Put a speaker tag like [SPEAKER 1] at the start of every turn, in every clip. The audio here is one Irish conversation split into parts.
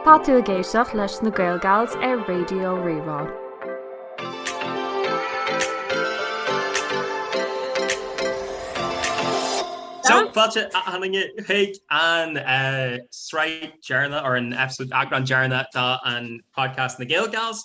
[SPEAKER 1] Tá tú ag éisteacht leis na Gaelgals ar Raidió Rí-Rá.
[SPEAKER 2] So fáilte achan duine chuig an sraith deireanach or an episode eagrán deireanach den podcast na Gaelgals.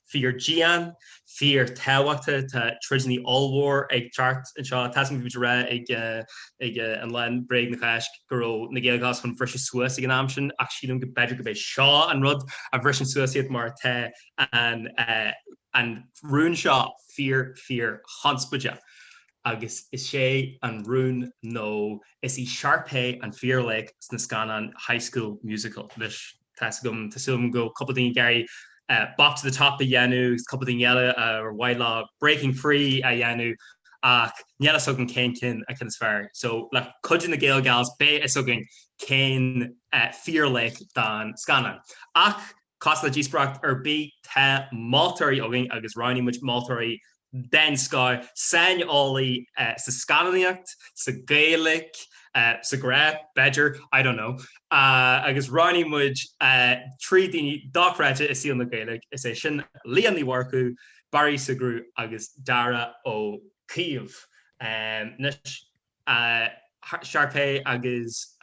[SPEAKER 2] Fíor dian, fíor tábhachtach, tá troideannaí ollmhór ag teacht anseo. Tá's agam bhí muid ag rá ag an lá bréag na Cháisc go raibh na Gaelgals chun briseadh suas ag an am sin ach sílim go b'fhéidir go b'é seo an rud a bhriseann suas iad mar tá an rún seo fíor fíor chonspóideach agus is é an rún nó is í Sharpay an fíor laoch sna scannáin High School Musical, anois. Tá's agam, tá's agam go bhfuil cúpla daoine ag iarraidh Bop to the Top a dhéanamh agus cúpla daoine eile ar mhaith leo Breaking Free a dhéanamh ach níl fhios againn cén ceann acu is fearr. So le cuidiú na Gaelgals beidh fhios againn cén fíor laoch den scannán. Ach cosúil le díospóireacht ar bith tá moltóirí againn agus roghnaigh muid moltóirí den scoth, saineolaí sa scannánaíocht, sa Ghaeilic, sa ghrá, b'fhéidir, I don't know. Agus roghnaigh muid trí daoine dochreidte i saol na Gaeilge, is é sin, Leah Ní Mhurchú, Barry Sugrue agus Darragh Ó Caoimh. Anois, Sharpay agus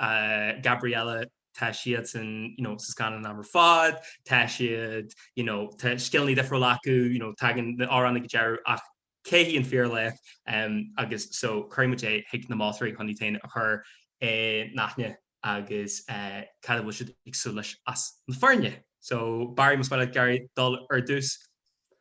[SPEAKER 2] Gabriella tá siadsan, you know, sa scannán am ar fad, tá siad, you know, tá scileanna difriúla acu, you know, tagann na hamhráin go dearfa ach cé hí an fíor laoch? Agus so cuirfidh muid é chuig na moltóirí chun iad féin a chur i n-aithne agus cad a bhfuil siad ag súil leis as na foirne. So Barry, más maith leat ag iarraidh dul ar dtús.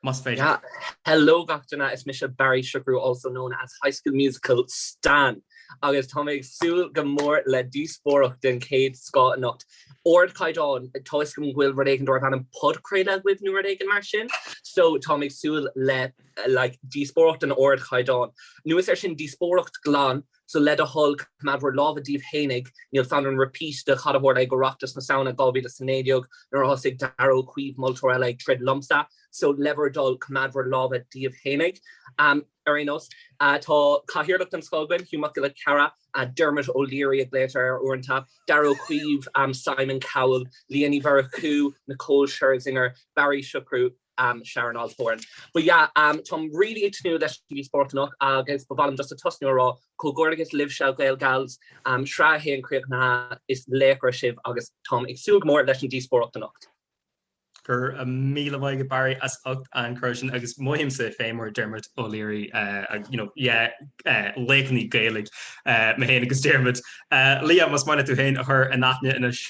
[SPEAKER 2] Más féidir.
[SPEAKER 3] Hello gach duine, is mise Barry Siochrú also known as High School Musical Stan agus tá mé ag súil go mór le díospóireacht den chéad scoth anocht. Ardchaighdeán, toisc go bhfuil rud éigin darb ainm podchraoladh agaibh nó rud éigin mar sin, so tá mé ag súil le like díospóireacht an ardchaighdeáin. Anuas air sin díospóireacht glan So le do thoil, coimeád bhur lámha daoibh fhéinig, níl fonn orm repeat de cad a tharla ag Oireachtas na Samhna 2019 nuair a thosaigh Darragh Ó Caoimh, moltóir eile, ag troid liomsa. So le bhur dtoil, coimeád bhur lámha daoibh fhéinig. Ar aon nós, tá Cathaoirleach den scoth againn, Hugh Mac Giolla Chearra, Dermot O'Leary a ghlaotar air uaireanta, Darragh Ó Caoimh, Simon Cowell, Leah Ní Mhurchú, Nicole Scherzinger, Barry Siochrú, am Sharon Osbourne. But yeah am táim really ag tnúth leis an díospóireacht anocht agus ba mhaith liom just a tosnú a rá comhghairdeas libhse Gael Gals am Shraith a haon críochnaithe is laochra sibh agus táim ag súil go mór leis an díospóireacht anocht.
[SPEAKER 2] Go raibh míle maith agat Barry as ucht an cur síos sin agus mothaím saghas mar Dermot O'Leary agus you know yeah laochra na Gaeilge mé fhéin agus Dermot. Liadh más maith leat tú fhéin a chur in aithne anois.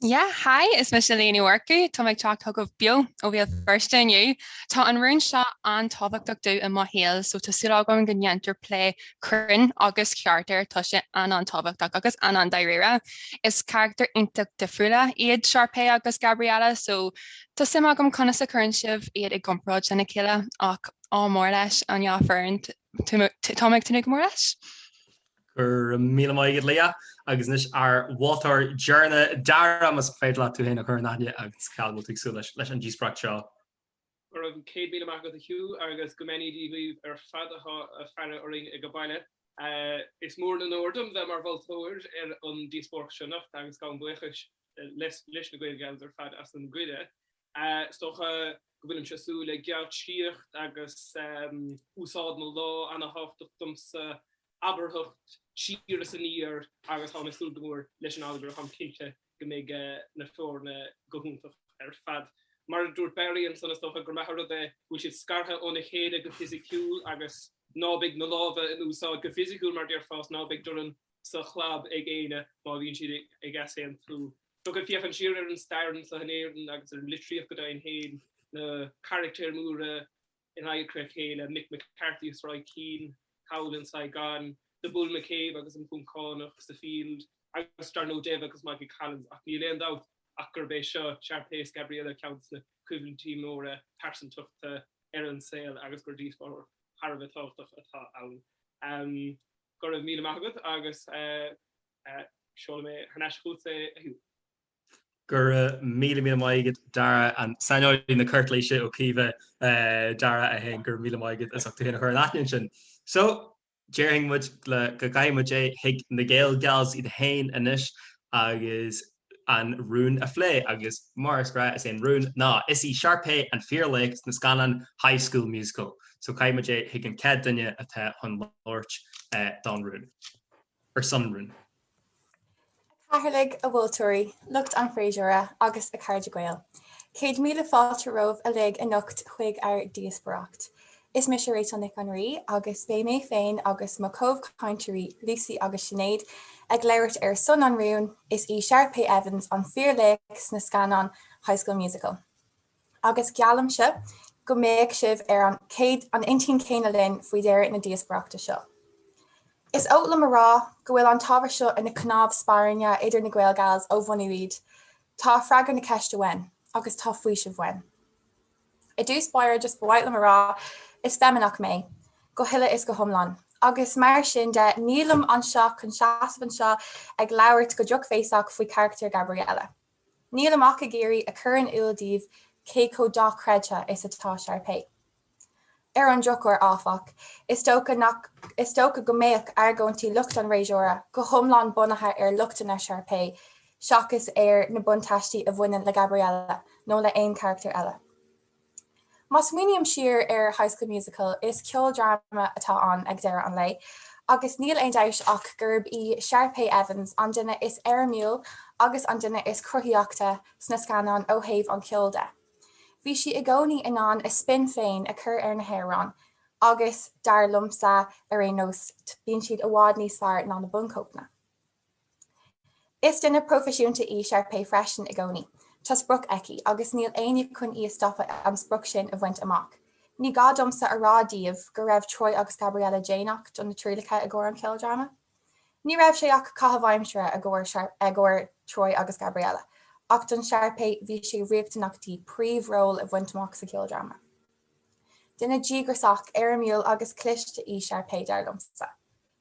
[SPEAKER 2] Yeah,
[SPEAKER 4] hi, is mise Liadh Ní Mhurchú, táim ag teacht chugaibh beo ó Bhéal Feirste inniu. Tá an rún seo an-tábhachtach domh i mo shaol so tá súil agam go ndéantar plé cruinn agus ceart air, tá sé an-an-tábhachtach agus an-an-dáiríre. Is carachtair iontach difriúla iad Sharpay agus Gabriella so tá suim agam conas a chuireann sibh iad i gcomparáid lena chéile ach ádh mór leis an dá fhoireann, táim ag tnúth go mór leis.
[SPEAKER 2] Go raibh míle maith agat Liadh. Agus anois ár mholtóir deireanna Dara, más féidir leat tú fhéin a chur in aithne agus cad a bhfuil tú ag súil leis an díospóireacht seo? Go raibh
[SPEAKER 5] céad míle maith agat Hugh agus go mbeannaí dhíbh ar fad atá ag faire orainn ag baile. Is mór an onóir dom bheith mar mholtóir ar an díospóireacht seo anocht agus gabhaim buíochas leis na Gael Gals ar fad as an gcuireadh Is dócha go bhfuilimse ag súil le geáitsíocht agus úsáid na lámh ana-thábhachtach domsa, abarthacht siar is aniar agus táim ag súil go mór leis an allagar. Táim cinnte go mbeidh na foirne go hiontach ar fad. Mar a dúirt Barry ansan, is dócha gur maith an rud é go bhfuil siad scartha óna chéile go fisiciúil agus ná beidh na lámha in úsáid go fisiciúil mar déarfá is ná beidh dorn sa chlab ag éinne má bhíonn siad ag easaontú. So ag féachaint siar ar an stair anseo in Éirinn agus ar an litríocht go deimhin féin na carachtair mhóra in aghaidh a chéile, Mick McCarthy agus Roy Keane, thall in Saipan, The Bull McCabe agus an Poncánach sa Field, agus dar ndóigh Dev agus Mikey Collins. Ach níl aon dabht ach gurb é seo, Sharpay is Gabriella, ceann de na coimhlintí móra pearsantachta ar an saol agus gur díospóireacht thar a bheith tábhachtach atá ann. Go raibh míle maith agat agus. Seolfaidh mé thar n-ais chugat é a Hugh.
[SPEAKER 2] Go raibh míle míle maith agat Dara an saineolaí na cúirtéise Ó Caoimhe Dara é féin go raibh míle maith agat as ucht tú féin a chur in aithne ansin. So, déarfainn go gcaithfidh muid é chuig na Gael Gals iad féin anois agus an rún a phlé agus mar is gnáth is é an rún ná is í Sharpay an fíorlaoch sna scannáin High School Musical. So caithfidh muid é chuig an chéad duine atá chun labhairt don rún. ar son rún. A
[SPEAKER 6] Chathaoirligh, a mholtóirí, lucht an fhreasúra agus a chairde Gael. Céad míle fáilte romhaibh uilig anocht chuig ár díospóireacht. Is mise Rachel Nic an Rí agus beidh mé féin agus mo chomhchainteoirí Lucy agus Sinéad ag labhairt ar son an rún, Is í Sharpay Evans an fíorlaoch sna scannáin High School Musical. agus geallaimse go mbeidh sibh ar an an intinn céanna linn faoi dheireadh na díospoireachta seo. Is oth liom a rá go bhfuil an t-ábhar seo ina cnámh spairne idir na Gaelgals ó bhunú iad. Tá freagra na ceiste uainn, agus tá faoiseamh uainn. I dtús báire just ba mhaith liom a rá is feimineach mé, go huile is go hiomlán, agus mar sin de nílim anseo chun seasamh anseo ag labhairt go drochbhéasach faoi charachtar Gabriella. Nílim ach ag iarraidh a chur in iúl daoibh cé chomh dochreidte is atá Sharpay. Ar an drochuair, áfach, is dócha nach is dócha go mbeadh argóintí lucht an Fhreasúra go hiomlán bunaithe ar lochtanna Sharpay seachas ar na buntáistí a bhaineann le Gabriella nó le haon charachtar eile. Má smaoiním siar ar High School Musical, is ceoldráma atá ann ag deireadh an lae, agus níl aon dabht ach gurb í Sharpay Evans an duine is éirimiúil agus an duine is cruthaithí sna scannáin ó thaobh an cheoil de. Bhí sí i gcónaí in ann a spin féin a chur ar na hamhráin agus, dar liomsa ar aon nós, bíonn siad i bhfad níos fearr ná na buncóipeanna. Is duine proifisiúnta í Sharpay freisin i gcónaí. Tá sprioc aici, agus níl éinne chun í a stopadh an sprioc sin a bhaint amach. Ní gá domsa a rá daoibh go raibh Troy agus Gabriella déanach do na trialacha i gcomhair an cheoldráma. Ní raibh sé ach caitheamh aimsire i gcomhair Troy agus Gabriella, ach don Sharpay bhí sé riachtanach di príomhról a bhaint amach sa cheoldráma. Duine díograsach, éirimiúil agus cliste í Sharpay, dar liomsa.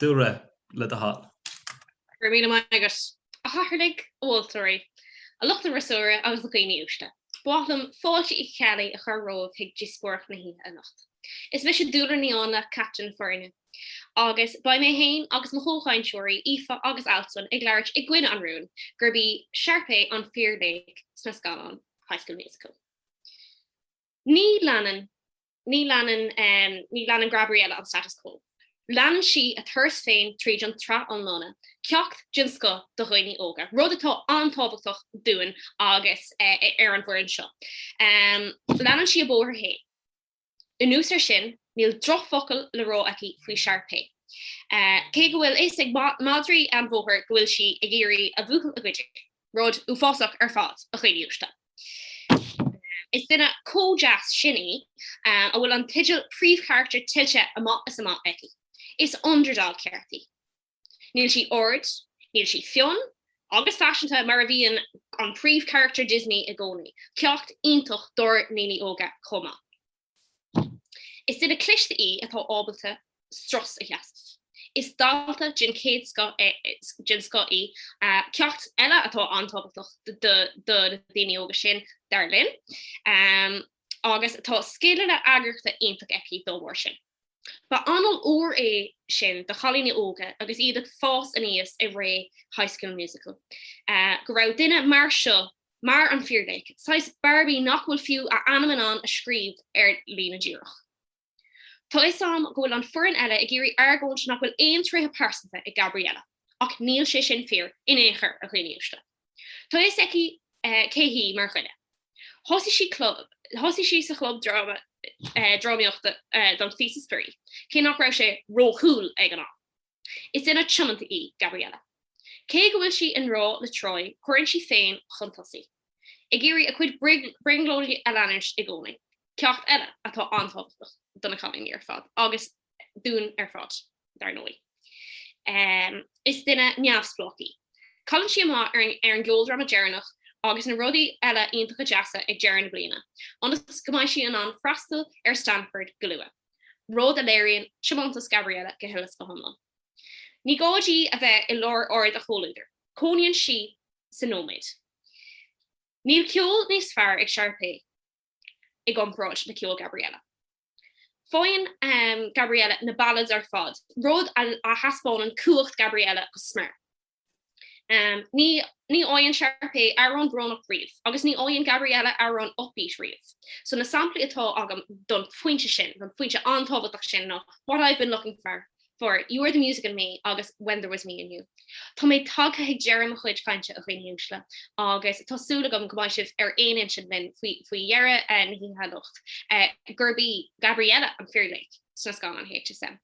[SPEAKER 2] Dúlra, le do thoil. Go raibh
[SPEAKER 7] míle maith agat, a chathaoirligh, a mholtóirí, a lucht an fhreasúra agus a dhaoine uaisle. Ba mhaith liom fáilte Uí Cheallaigh a chur romhaibh chuig díospóireacht na hoíche anocht. Is mise Dúlra Ní Áinle, captaen na foirne, agus beidh mé féin agus mo chomhchainteoirí, Aoife agus Altan, ag labhairt i gcoinne an rúin gurb í Sharpay an fíorlaoch sna scannáin High School Musical. Ní leanann. Ní leanann, ní leanann Gabriella an status quo. Leanann sí a turas féin tríd an tsraith iomlán, ceacht den scoth do dhaoine óga, rud atá an-tábhachtach dúinn agus ar an bhfoireann seo. Leanann sí a bóthar féin. Anuas ar sin, níl drochfhocal le rá aici faoi Sharpay. Cé go bhfuil a fhios ag madraí an bhóthair go bhfuil sí ag iarraidh a bhuachaill a ghoid, rud uafásach ar fad, a dhaoine uaisle. Is duine chomh deas sin í a bhfuil an teideal príomhcharachtar tuillte amach is amach aici. Is underdog character í. Níl sí ard, níl sí fionn agus faiseanta mar a bhíonn an príomhcharachtar Disney i gcónaí, ceacht iontach dár ndaoine óga chomh maith. Is duine cliste í atá ábalta strus a sheasamh. Is dalta den chéad den scoth í, ceacht eile atá an-tábhachtach do na daoine óga sin, dar linn, agus tá scileanna eagraíochta iontach aici dá bharr sin. Ba anáil úr é sin do chailíní óga agus iad ag fás aníos i ré High School Musical go raibh duine mar seo Mar an fíorlaoch, saghas Barbie nach bhfuil fiú a ainm in ann a scríobh ar líne díreach. Tá 'fhios a'm go bhfuil an foireann eile ag iarraidh argóint nach bhfuil aon tréithe pearsanta ag Gabriella, ach níl sé sin fíor in aon chor, a dhaoine uaisle. Tá 'fhios aici cé hí mar dhuine. Thosaigh sí sa chlub dráma, drámaíochta don phíosa spraoi, cé nach raibh sé ró-cool ag an am. Is duine tiomanta í Gabriella. Cé go bhfuil sí i ngrá le Troy, cuireann sí féin chun tosaigh, ag iarraidh a cuid brionglóidí a leanúint i gcónaí, ceacht eile atá an-tábhachtach do na cailíní ar fad, agus dúinn ar fad, dar ndóigh. Is duine neamhspleách í. Cailleann sí amach ar an gceoldráma deireanach agus na rudaí eile iontacha deasa ag deireadh na bliana, ionas go mbeidh sí in ann freastal ar Stanford go luath. rud a léiríonn tiomantas Gabriella go huile is go hiomlán. Ní gá di a bheith i lár aird a chomhluadar, cónaíonn sí sa nóiméad. Níl ceol níos fearr ag Sharpay i gcomparáid le ceol Gabriella. Faigheann Gabriella na ballads ar fad, rud a thaispeánann cumhacht Gabriella go smior. Um, ní fhaigheann Sharpay amhrán brónach riamh, agus ní fhaigheann Gabriella amhrán upbeat riamh. So na samplaí atá agam don phointe sin, don phointe an-tábhachtach sin ná what I've been looking for, for, you are the music in me agus when there was me and you. Tá mé tagtha ag deireadh mo chuid cainte, a dhaoine uaisle, agus tá súil agam go mbeidh sibh ar aon intinn linn faoi dheireadh na hoíche anocht, gurb í Gabriella an fíorlaoch sna scannáin HSM.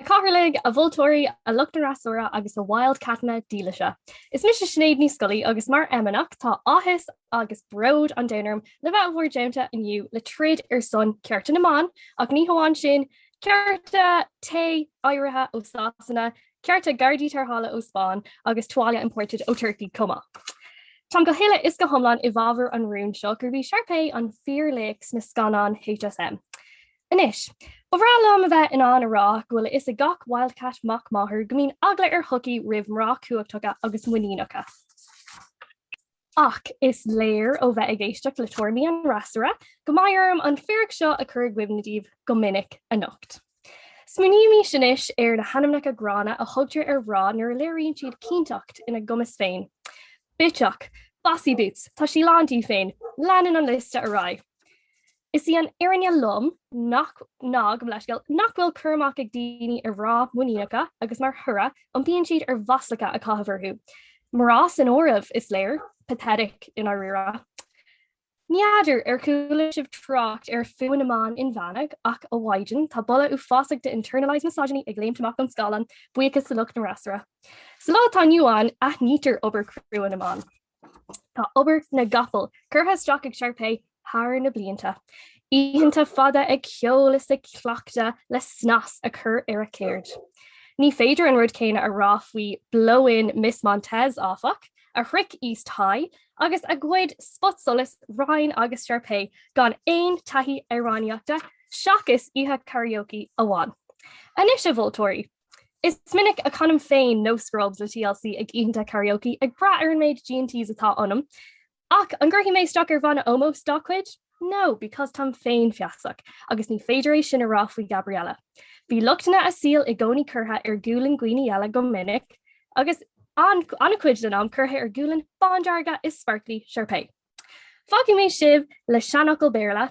[SPEAKER 8] A Chathaoirligh, a mholtóirí, a lucht an fhreasúra agus a Wildcatanna dílise. Is mise Sinéad Ní Scolaí agus mar fheimineach tá áthas agus bród an domhain orm le bheith i bhur dteannta inniu le troid ar son cearta na mban ach ní hamháin sin, cearta tae oighrithe ó Sasana, cearta gardaí tarrthála ó Spáinn agus tuáille imported ó Turkey chomh maith. Táim go huile is go hiomlán i bhfabhar an rúin seo gurb í Sharpay an fíorlaoch sna scannáin HSM. Anois, ba bhreá liom a bheith in ann a rá go bhfuil a fhios ag gach Wildcat mac máthar go mbíonn eagla ar shochaí roimh mná cumhachtacha agus muiníneacha. Ach is léir ó bheith ag éisteacht le tuairimí an fhreasúra go mbeidh orm an fíric seo a chur i gcuimhne daoibh go minic anocht. Smaoinímís anois ar na hainmneacha gránna a thugtar ar mhná nuair a léiríonn siad cinnteacht ina gcumas féin. Bitseach! Bossy boots! Tá sí lán dí féin! Leanann an liosta ar aghaidh. Is í an fhírinne lom nach, ná, gabh mo leithscéal, nach bhfuil cur amach ag daoine ar mhná muiníneacha agus mar thoradh iompaíonn siad ar mhaslacha a chaitheamh orthu, mná san áireamh is léir. Pathetic, i ndáiríre. Ní fheadar ar chuala sibh trácht ar fhuath na mban inmheánaigh ach ó mhaidin tá boladh uafásach de internalised misogyny ag léimt amach an scáileáin, buíochas le lucht an fhreasúra. Sa lá atá inniu ann aithnítear obair chrua na mban. Tá obair na gcapall curtha isteach ag Sharpay thar na blianta. Oícheanta fada ag ceol is ag cleachtadh le snas a chur ar a ceird. Ní féidir an rud céanna a rá faoi Blow In Miss Montez, áfach, a shroich East High agus a ghoid spotsolas Ryan agus Sharpay gan aon taithí amhránaíochta seachas oíche karaoke amháin. Anois, a mholtóirí! Is minic a chanaim féin No Scrubs le TLC ag oícheanta karaoke ag brath ar an méid G&Ts atá ionam, ach an gcuirfidh mé isteach ar bhanna ómóis dá cuid? No, because táim féinfheasach, agus ní féidir é sin a rá faoi Gabriella. Bhí lochtanna a saoil i gcónaí curtha ar ghualainn daoine eile go minic, agus an-chuid den am curtha ar ghualainn bándearga is sparkly Sharpay. Fágfaidh mé sibh le seanfhocal Béarla,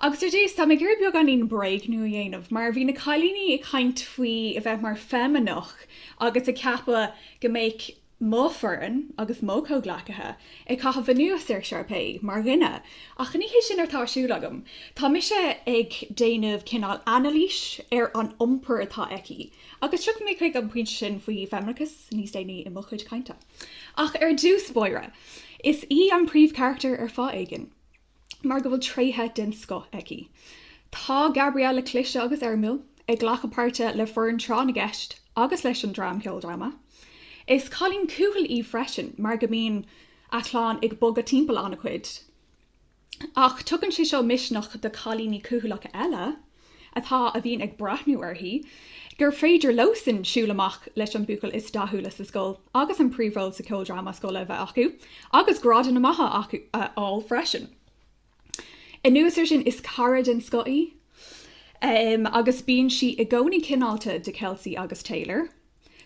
[SPEAKER 9] Agus ar dtús, tá mé ag iarraidh beagáinín bréagnú a dhéanamh mar bhí na cailíní ag caint faoi a bheith mar feimineach agus ag ceapadh go mbeadh mo foireann agus mo chomhghleacaithe ag caitheamh anuas ar Sharpay mar dhuine ach ní hé sin atá ar siúl agam. Tá mise ag déanamh cineál anailís ar an iompar atá aici agus tiocfaidh mé chuig an pointe sin faoi fheimineachas níos déanaí i mo chuid cainte. Ach ár ndíospóireacht, is í an príomhcharachtar ar fáth éigin. mar go bhfuil tréithe den scoth aici. Tá Gabriella cliste agus éirimiúil, ag glacadh páirte le foireann Tráth na gCeist agus leis an dream Ceoldráma. Is cailín cúthail í freisin mar go mbíonn a clann ag bogadh timpeall ana chuid. Ach tugann sé seo misneach do cailíní cúthaileacha eile. atá, a bhíonn ag breathnú uirthi, gur féidir leosan siúl amach leis an buachaill is dathúla sa scoil agus an príomhról sa ceoldráma scoile a bheith acu agus grádanna maithe a fháil freisin. Anuas ar sin, is cara den scoth í agus bíonn sí i gcónaí cineálta do Kelsi agus Taylor.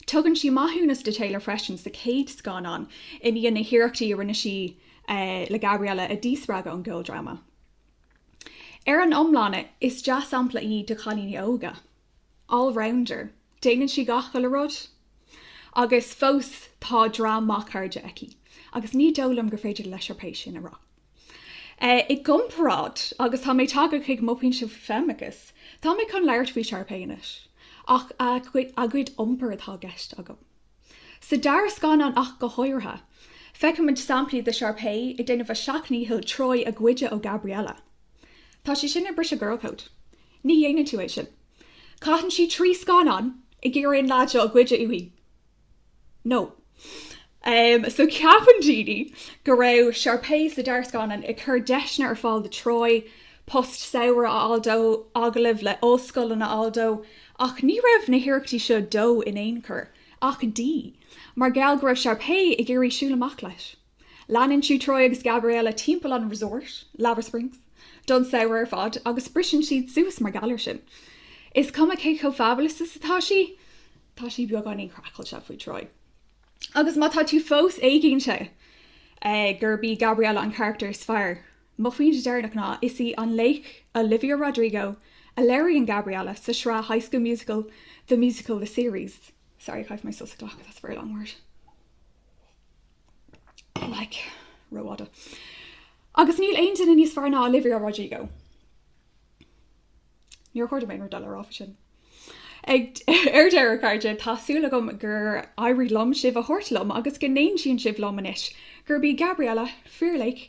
[SPEAKER 9] Tugann sí maithiúnas do Taylor freisin sa chéad scannán i ndiaidh na hiarrachtaí a rinne sí le Gabriella a díspreagadh ón gceoldráma. Ar an iomlán is dea-sampla í do chailíní óga. All rounder. Déanann sí gach chuile rud. Agus fós tá dream maith cairde aici. Agus ní dóigh liom gur féidir le Sharpay sin a rá. I gcomparáid, agus tá mé ag tagairt chuig mo pointe faoi feimineachas, tá mé chun labhairt faoi Sharpay anois. Ach a gcuid iompair atá i gceist agam. Sa dara scannán ach go háirithe, feicimid samplaí de Sharpay ag déanamh a seacht ndícheall Troy a ghoid ó Gabriella. Tá sí sin ag briseadh girl code. Ní dhéanann tú é sin. Caitheann sí trí scannán ag iarraidh an leaid seo a ghoid uaithi. No. Em, so ceapann daoine go raibh Sharpay sa dara scannán ag cur deiseanna ar fáil do Troy, post samhraidh a fháil dó, agallamh le ollscoileanna a fháil dó, Ach ní raibh na hiarrachtaí seo dó in aon chor, ach dí, mar gheall go raibh Sharpay ag iarraidh siúl amach leis. Leanann sí Troy agus Gabriella timpeall an resort, Lava Springs, don samhradh ar fad agus briseann siad suas mar gheall ar sin. Is cuma cé chomh fabulous is atá sí, tá sí beagáinín craiceáilte faoi Troy. Agus má tá tú fós éiginnte gurb í Gabriella an charactar is fearr Mo phointe deireanach ná, is í an laoch Olivia Rodrigo a léiríonn Gabriella sa sraith High School Musical, The Musical, The Series. Sorry, chaith mé sos a ghlacadh, that's a very long word. Like, rófhada. Agus níl aon duine níos fearr ná Olivia Rodrigo. Níor cheart dom aon rud eile a rá faoi sin. Ag ar deireadh a chairde, tá súil agam gur éirigh liom sibh a thabhairt liom agus go n-aontaíonn sibh liom anois gurb í Gabriella fíorlaoch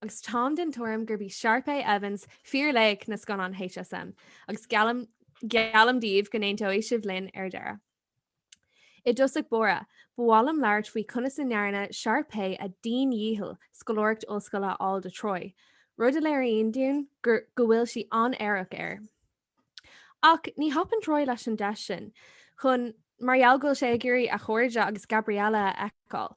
[SPEAKER 1] Agus táim den tuairim gurb í Sharpay Evans fíorlaoch na scannán HSM agus geallaim geallaim daoibh go n-aontóidh sibh linn ar deireadh. I dtosach báire, ba mhaith liom labhairt faoi conas a ndearna Sharpay a dian-dhícheall scoláireacht ollscoile a fháil do Troy, rud a léiríonn dúinn gur go bhfuil sí an-aireach air. Ach ní thapaíonn Troy leis an deis sin chun mar gheall go bhfuil sé ag iarraidh a chairde agus Gabriella a fheiceáil.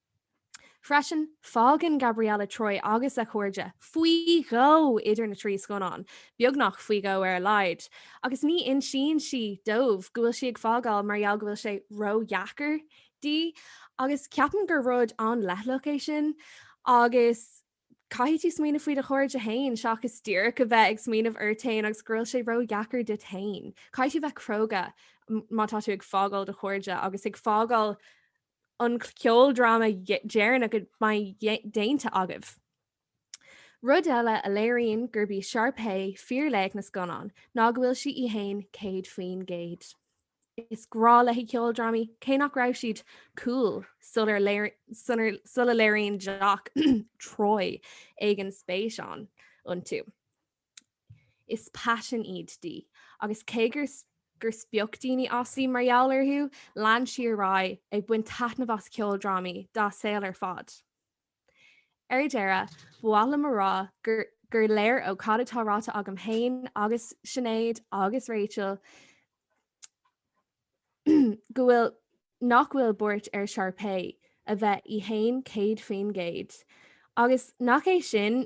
[SPEAKER 1] Freisin, fágann Gabriella Troy agus a cairde faoi dhó idir na trí scannán, beagnach faoi dhó ar a laghad, agus ní insíonn sí dóibh go bhfuil sí ag fágáil mar gheall go bhfuil sé ró-dheacair dí, agus ceapaim gur rud an-leithleach é sin, agus caithfidh tú smaoineamh faoi do chairde fhéin seachas díreach a bheith ag smaoineamh ort fhéin agus go bhfuil sé ró-dheacair duit fhéin. Caithfidh tú bheith cróga má tá tú ag fágáil do chairde agus ag fágáil an ceoldráma deireanach a mbeidh déanta agaibh. Rud eile a léiríonn gurb í Sharpay fíorlaoch na scannán ná go bhfuil sí í fhéin céad faoin gcéad. Is grá léi ceoldrámaí, cé nach raibh siad cool sula léiríonn jock Troy éigin spéis iontu. Is paisean iad di, agus cé gur spoch daoine as í mar gheall orthu, lean sí ar aghaidh ag baint taitneamh as ceoldrámaí dá saol ar fad. Ar deireadh, ba mhaith liom a rá gur léir ó cad atá ráite agam féin agus Sinéad agus Rachel go bhfuil nach bhfuil buairt ar Sharpay a bheith í féin 100%, agus nach é sin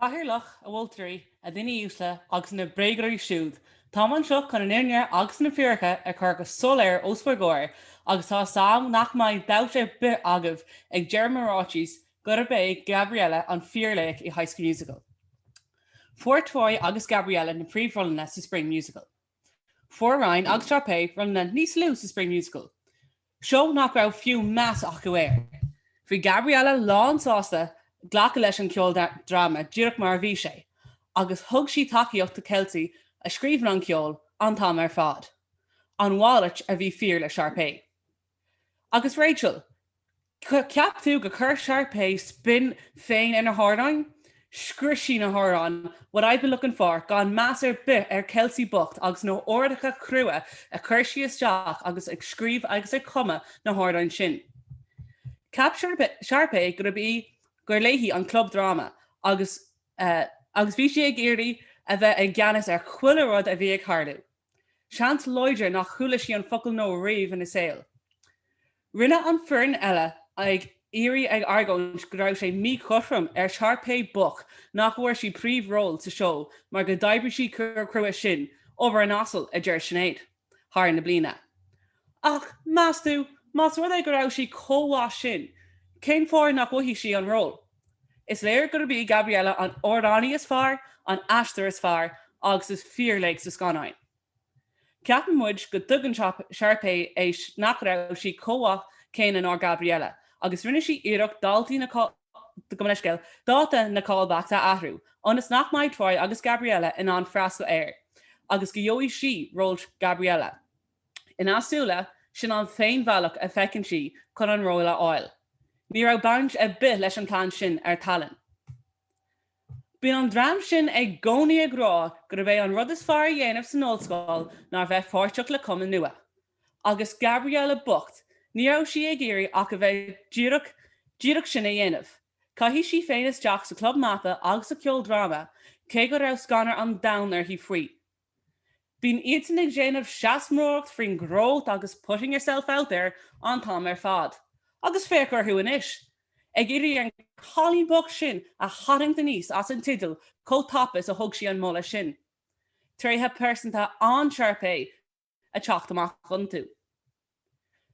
[SPEAKER 10] Cathaoirleach, a mholtóirí, a dhaoine uasle, agus na bréagoirí siúd, táim anseo chun an fhírinne agus na fíoracha a chur go soiléir os bhur gcomhair agus tá 'fhios agam nach mbeidh dabht ar bith agaibh ag deireadh mo ráitis gurb é Gabriella an fíorlaoch i High School Musical. Fuair Troy agus Gabriella na príomhrólanna sa Spring Musical. Fuair Ryan agus Sharpay rólanna níos lú sa Spring Musical, seó nach raibh fiú meas acu air. Bhí Gabriella lánsásta glacadh leis an gceoldráma díreach mar a bhí sé, agus thug sí tacaíocht do Kelsi a scríobhann an ceol an t-am ar fad, an mhalairt a bhí fíor le Sharpay. Agus Rachel, ceap tú go chuir Sharpay spin féin ar na hamhráin? Scrios sí na hamhráin what I've been looking for gan meas ar bith ar Kelsi bocht agus na h-ordacha crua a chuir sí isteach agus ag scríobh agus ag cumadh na hamhráin sin. Ceap Sharpay gurb í, gur léi an club dráma agus agus bhí sí ag iarraidh a bheith i gceannas ar chuile rud a bhí ag tharlú. Seans láidir nach chuala sí an focal No riamh ina saol. Rinne an foireann eile ag iarraidh ag argóint go raibh sé míchothrom ar Sharpay bocht nach bhfuair sí príomhról sa seó mar go d'oibrigh sí chomh crua sin, obair an asail, a deir Sinéad, thar na bliana. Ach, meas tú, más rud é go raibh sí chomh mhaith sin, cén fáth nach bhfaighidh sí an ról? Is léir gurb í Gabriella an amhránaí is fearr, an aisteoir is fearr agus is fíorlaoch sa scannáin. Ceapann muid go dtuigeann Sharpay é nach raibh sí chomh mhaith céanna ná Gabriella agus rinne sí iarracht daltaí na gabh mo leithscéal dáta na callbacks a athrú ionas nach mbeidh Troy agus Gabriella in ann freastal air agus go gheobhaidh sí ról Gabriella. Ina súile, sin an t-aon bhealach a feiceann sí chun an ról a fháil. Ní raibh baint ar bith leis an plean sin ar Gabriella. Bíonn an dream sin i gcónaí ag rá gurb é an rud is fearr a dhéanamh san ollscoil ná bheith páirteach le cumann nua. Agus Gabriella bocht, ní raibh sí ag iarraidh ach a bheith díreach díreach sin a dhéanamh. Chaith sí féin isteach sa club mata agus sa ceoldráma, cé go raibh scanradh an domhain uirthi faoi. Bíonn iadsan ag déanamh seanmóireacht faoi growth agus putting yourself out there an t-am ar fad. Agus féach orthu anois. Ag iarraidh an cailín bocht sin a tharraingt aníos as an teideal chomh tapa is a thug sí an moladh sin. Tréithe pearsanta Sharpay ag teacht amach iontu.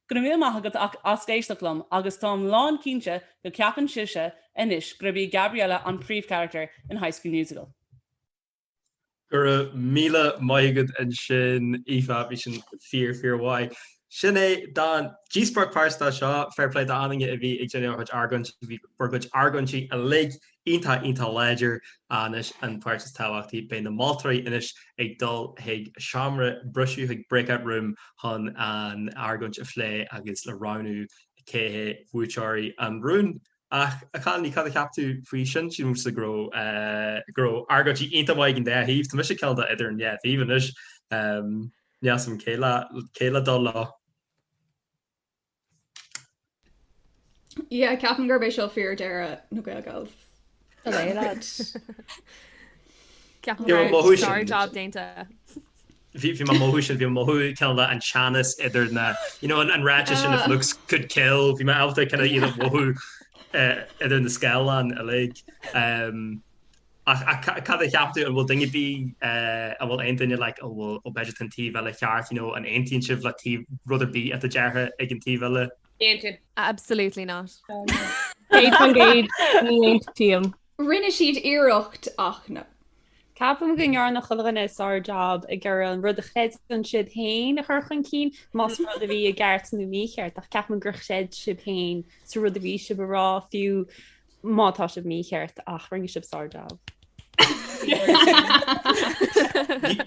[SPEAKER 10] Go raibh míle maith agat as éisteacht liom agus táim lán cinnte go ceapann sibhse anois gurb í Gabriella an príomhcharactar in High School Musical.
[SPEAKER 2] Go raibh míle maith agat ansin Aoife, bhí sin fíor fíor mhaith. Sin é don díospóireacht pháirt-se seo, fair play d'aon duine a bhí ag déanamh a gcuid argóintí, bhí bhur gcuid argóintí uilig iontach iontach láidir anois an páirt is tábhachtaí, beidh na moltóirí anois ag dul chuig seomra briseadh, chuig breakout room chun an argóint a phlé agus le roghnú cé hiad buaiteoirí an rúin. Ach, a Chanainn, cad a cheap tú faoi sin? Sílimse go raibh, eh, go raibh argóintí iontach maith ag an dá thaobh. Tá mise kind of idir an dhá thaobh anois. Em, n'fheadar cé le, cé le dul leo.
[SPEAKER 9] Yeah, ceapaim gurb é seo fíordheireadh na
[SPEAKER 1] GaelGals ó a bheith leid. Ceapaim go raibh sár-jab déanta. bhí
[SPEAKER 2] bhí mé ag mothú sin bhí mé ag mothú kind of an teannas idir na you know an ráiteas sin if looks could kill bhí mé ábalta kind of iad a mhothú idir na scáileáin uilig. Ach ach ca cad a cheap tú an bhfuil duine ar bith an bhfuil aon duine like ó bhfuil ó b'fhéidir tá an taobh eile ceart you know an aontaíonn sibh le taobh rud ar bith atá ráite ag an taobh eile? Aontaím. Absolutely
[SPEAKER 1] not. Céad faoin
[SPEAKER 8] gcéad ní aontaím. Rinne
[SPEAKER 9] siad iarracht ach no. Ceapaim
[SPEAKER 11] go ndearna chuile dhuine sár-jab ag iarraidh an rud a chreideann siad féin a chur chun cinn, más rud a bhí ceart nó mícheart, ach ceapaim gur chreid sibh féin sa rud a bhí sibh a rá, fiú má tá sibh mícheart, ach rinne sibh
[SPEAKER 2] sár-jab.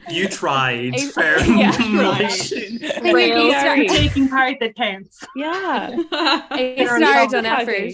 [SPEAKER 2] You tried fair taking part that counts.
[SPEAKER 11] Yeah.
[SPEAKER 8] A
[SPEAKER 1] star for effort.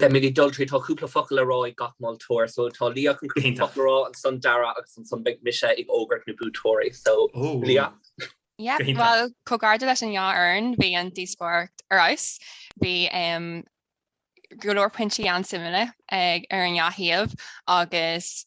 [SPEAKER 2] Beimíd ag dul tríd.
[SPEAKER 3] Tá cúpla focal le rá ag gach moltóir so tá Liadh chun cúpla focal a rá, ansan Darragh agus ansan beidh mise ag fógairt na buaiteoirí. So, Liadh? Yep,
[SPEAKER 4] bhuel, comhghairdeas leis an dá fhoireann, bhí an díospóireacht ar fheabhas. Bhí go leor pointí an-suimiúla ar an dá thaobh agus.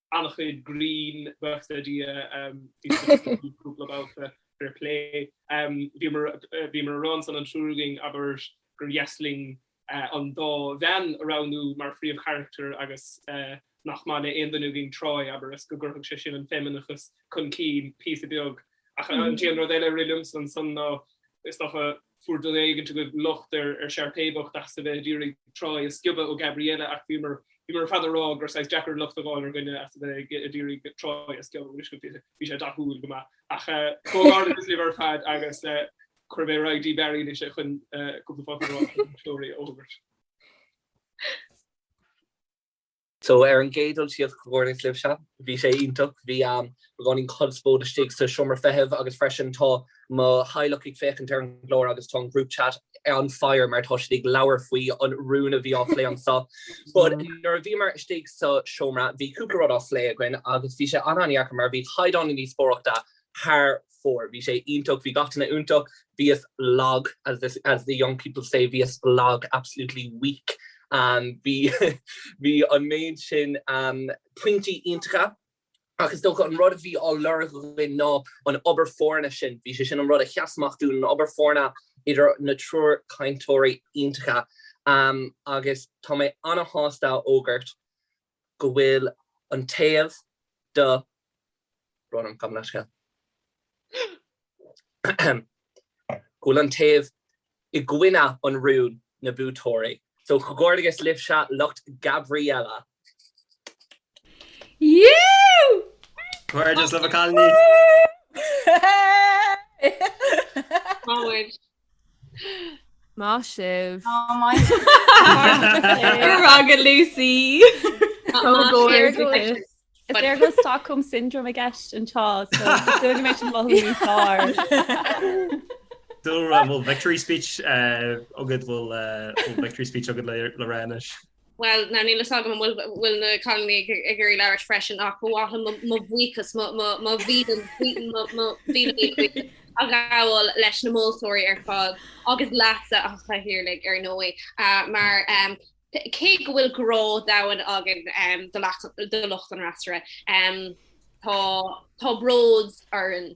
[SPEAKER 5] an-chuid grinn buíochas le Dia bhí cúpla babhta fair play. Bhíomar a rá ansan an triúr againn abair gur dheas linn an dá bhean a roghnú mar phríomhcharachtair agus nach maith le aon duine againn Troy abair is go gcuirfeadh sé sin an feimineachas chun cinn píosa beag. Ach an t-aon rud eile a rith liomsa ansan ná is dócha fuair duine éigin agaibh locht ar Sharpay bhocht as a bheith ag iarraidh Troy a sciobadh ó Gabriella ach bhíomar ar fad ag rá gur saghas deacair locht a dh'fháil ar dhuine as a bheith ag iarraidh Troy a sciobadh bhí sé dathúil go maith. Ach comhghairdeachas libh ar fad agus cuirfidh mé ar aghaidh chuig Barry anois é chun cúpla focal a rá agus an toradh a fhógairt.
[SPEAKER 3] So ar an gcéad dul síos, comhghairdeas libhse. Bhí sé iontach. Bhí beagáinín conspóid istigh sa seomra feithimh agus freisin tá mo theaghlach ag féachaint ar an gclár agus tá an group chat on fire mar tá siad ag labhairt faoi an rún a bhí á phlé anseo. But nuair a bhíomar istigh sa seomra bhí cúpla rud á phlé againn agus bhí sé an-an-dheacair mar bhí caighdeán na díospóireachta thar fóir. Bhí sé iontach, bhí gach duine iontach. Bhíos lag as the young people say, bhíos lag, absolutely weak. Bhí, bhí an méid sin pointí iontacha ach is dócha an rud a bhí á lorg againn ná an obair foirne sin, bhí sé sin an rud a sheas amach dúinn, an obair foirne idir an triúr cainteoirí iontacha. Agus tá mé ana-shásta a fhógairt go bhfuil an taobh tá brón orm, gabh mo leithscéal. Ahem. go bhfuil an taobh i gcoinne an rún na buaiteoirí. So Comhghairdeas libhse lucht
[SPEAKER 9] Gabriella. Yoooo!
[SPEAKER 2] Comhghairdeas libh a chailíní. Woo! Woo!
[SPEAKER 1] Táid Maith sibh. Go
[SPEAKER 6] raibh maith
[SPEAKER 9] agat Lucy.
[SPEAKER 11] Is léir go bhfuil Stockholm syndrome i gceist anseo so mé sin mothú ní sár. bhfuil
[SPEAKER 2] victory speech agad bhfuil victory speech agad le rá anois. Bhuel, ná níl
[SPEAKER 7] fhios agam an bhfuil na cailíní ag iarraidh labhairt freisin ach ba mhaith liom mo bhuíochas, mo mhíle buíochas a ghabháil leis na moltóirí ar fad agus leatsa, a Chathaoirligh ar ndóigh, mar cé go bhfuil grá domhain againn do lucht an fhreasúra, tá bród orainn.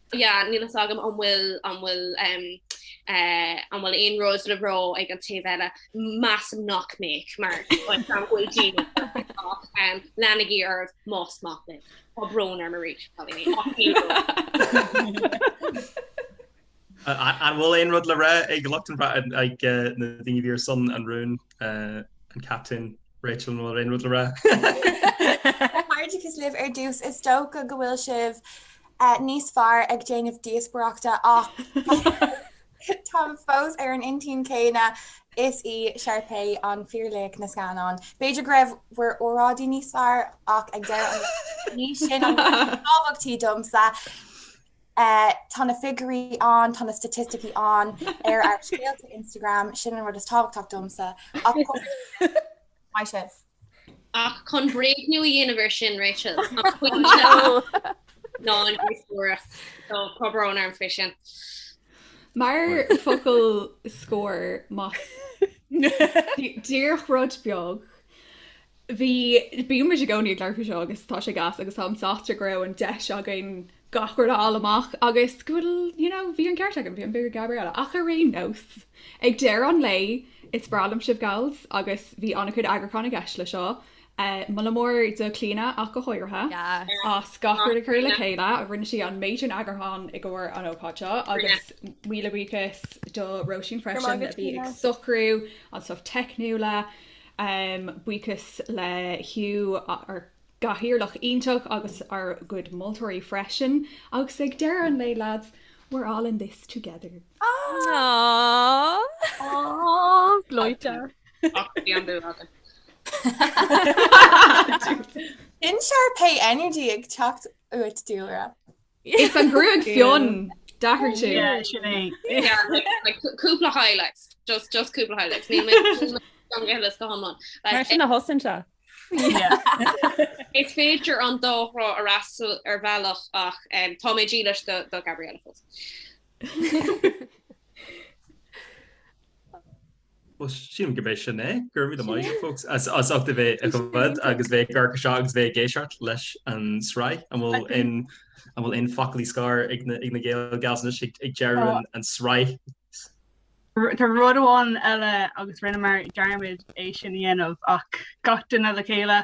[SPEAKER 7] Yeah, níl a fhios agam an bhfuil, an bhfuil, em, eh, an bhfuil aon rud le rá ag an taobh eile. Measaim nach mbeadh, mar b'fhéidir go bhfuil daoine ach, em, leanaigí oraibh más mian libh. Tá brón orm arís, cailíní, ach níl a fhios agam.
[SPEAKER 2] An bhfuil aon rud le rá ag lucht an bhra-, em, ag, eh, na daoine a bhí ar son an rúin, eh, an Captaen, Rachel, an bhfuil aon rud le rá?
[SPEAKER 6] Comhghairdeas libh ar dtús, is dócha go bhfuil sibh eh, níos fearr ag déanamh díospaireachta ach táim fós ar an intinn céanna is í Sharpay an fíor laoch na scannáin. B'fhéidir go raibh bhur óráidí níos fearr ach ag deireadh an lae ní sin an tábhachtach domsa. Eh, tá na figiúirí ann, tá na staitisticí ann ar ár scéalta Instagram, sin an rud is tábhachtach domsa ach maith sibh.
[SPEAKER 7] Ach chun bréagnú a dhéanamh ar sin, Rachel, an pointe ná an díospóireacht. So, tá brón orm faoi sin.
[SPEAKER 9] Mar focal scóir mar díreach rud beag, bhí, bíonn muid i gcónaí ag labhairt faoi seo agus tá sé gas agus táim sásta go raibh an deis againn gach rud a fháil amach agus go bhfuil, you know, bhí an ceart agam, bhí an bua ag Gabriella. Ach ar aon nós, ag deireadh an lae, is breá liom sibh gals agus bhí an-chuid eagrúcháin i gceist le seo. Moladh mór do Clíodhna ach go háirithe as gach rud a chur le chéile, rinne sí an méid sin eagrúcháin i gcomhair an ócáid seo agus míle buíochas do Róisín freisin a bhí ag socrú an stuff teicniúla. Buíochas le Hugh. gcathaoirleach iontach agus ár gcuid moltóirí freisin. Agus ag deireadh an lae lads, we're all in this together. Aww!
[SPEAKER 8] Gleoite! Ach bhí an dúil
[SPEAKER 6] agam. Sin Sharpay energy ag teacht uait, Dúlra. Is
[SPEAKER 9] an gruag fionn, d'athraigh tú. Yeah, sin é. Yeah,
[SPEAKER 7] like cúpla highlights. Just, just cúpla highlights. Níl mé, níl mé gan ghiollas go hiomlán. Mar
[SPEAKER 11] Like, sin a thosaíonn sé. yeah.
[SPEAKER 7] Is féidir an dá thrá a fhreastal ar bhealach ach em, tá mé dílis do, do Gabriella fós.
[SPEAKER 2] Bhuel, sílim go b'é sin é. Gura míle maith agat folks as as ucht a bheith ag fhad agus bheith ag amharc air seo agus bheith ag éisteacht leis an sraith an bhfuil in an bhfuil aon fhocal scoir ag na ag na Gael Gals anois ag ag deireadh an an
[SPEAKER 12] sraith. Tá rud amháin eile agus rinneamar dearmad é sin a dhéanamh ach gach duine le chéile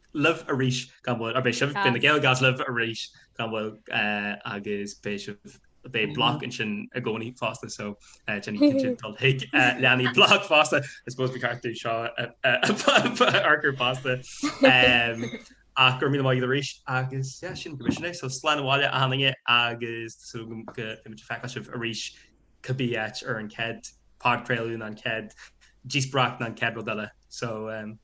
[SPEAKER 2] libh arís gan mhoill, beidh sibh, beidh na Gaelgals libh arís gan mhoill agus beidh sibh, beidh BLOC ansin i gcónaí fosta so déanaigí cinnte dul chuig, leanaigí BLOC fosta, I suppose bhí cartú seo a fhorchur fosta. Ach go raibh míle maith agat arís agus yeah sin go sin é so slán abhaile a dhaoine agus so beimid ag feiceáil sibh arís cibé áit ar an chéad podchraoladh nó an chéad díospóireacht nó an chéad rud eile so.